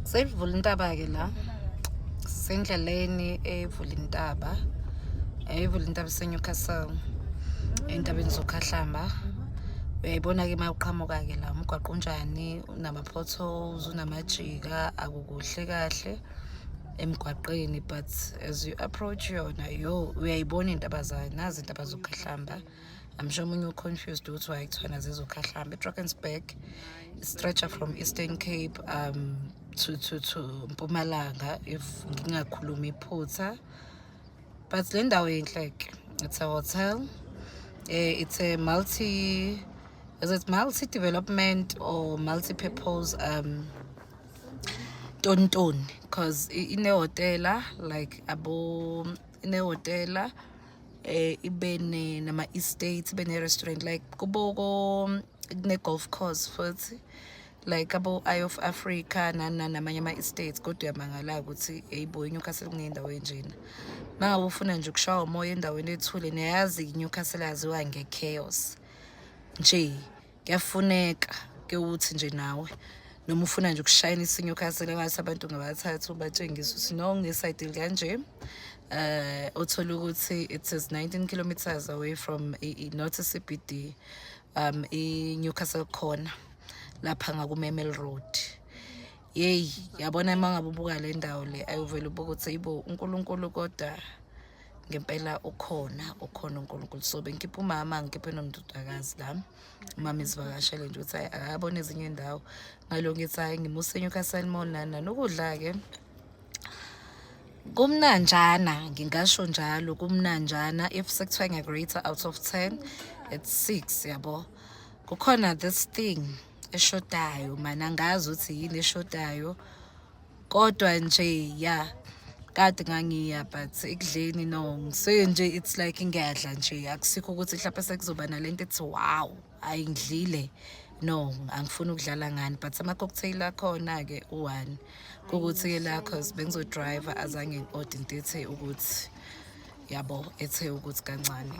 Seyivula intaba ke la. Sendleleni evula intaba. Ayivula intaba seNewcastle. Entabeni zokhahlamba. Uyayibona ke mawuqhamuka ke la umgwaqo unjani unama potholes unamajika akukuhle kahle emgwaqeni but as you approach yona yo uyayibona intaba zayo nazi intaba zokhahlamba. I'm sure omunye uconfused ukuthi why kuthiwena zizokhahlamba edrakensburg stretcher from eastern cape um to, to, to mpumalanga if ngingakhulumi iphutha but le ndawo yinhleke it's a hotel eh, it's a multi is it multi development or multi purpose um tontoni because inehotela like abo inehotela eh ibe ne nama estates ibe ne restaurant like kubo kune golf course futhi like abo Eye of Africa nana namanye ama estates kodwa uyamangala ukuthi eyibo iNewcastle kunendawo enjena mangabe ufuna nje ukushawa umoya endaweni ethule niyayazi iNewcastle yaziwa ngechaos nje kuyafuneka ke uthi nje nawe noma ufuna nje ukushayina isinye ukhasele ngathi abantu ngabathathu ubatshengisa ukuthi no ngesayidili kanje eh uthola ukuthi it is 19 kilometers away from not CBD um i Newcastle corner lapha ngakumemel road yeyi yabona uma ngabe ubuka le ndawo le ayuvele ubuka ukuthi yibo unkulunkulu kodwa ngempela ukhona ukhona unkulunkulu so bengikhipha umama ngikhiphe nomdodakazi la umama izivakashele nje ukuthi hayi akabona ezinye indawo ngalo ngithi hayi ngimuse enyukasile mall nana nokudla-ke kumnanjana ngingasho njalo kumnanjana if sekuthiwa ngiyakurate out of ten it's six yabo kukhona this thing eshodayo mana angazi ukuthi yini eshodayo kodwa nje ya kade ngangiya but ekudleni no ngise nje it's like ngiyadla nje akusikho ukuthi mhlawumpe sekuzoba nalento ethi wow hayi ngidlile no angifuni ukudlala ngani but ama-cocktail akhona-ke u-one kukuthi-ke la cause bengizodrayiva azange ngi-ode into ethe ukuthi yabo ethe ukuthi kancane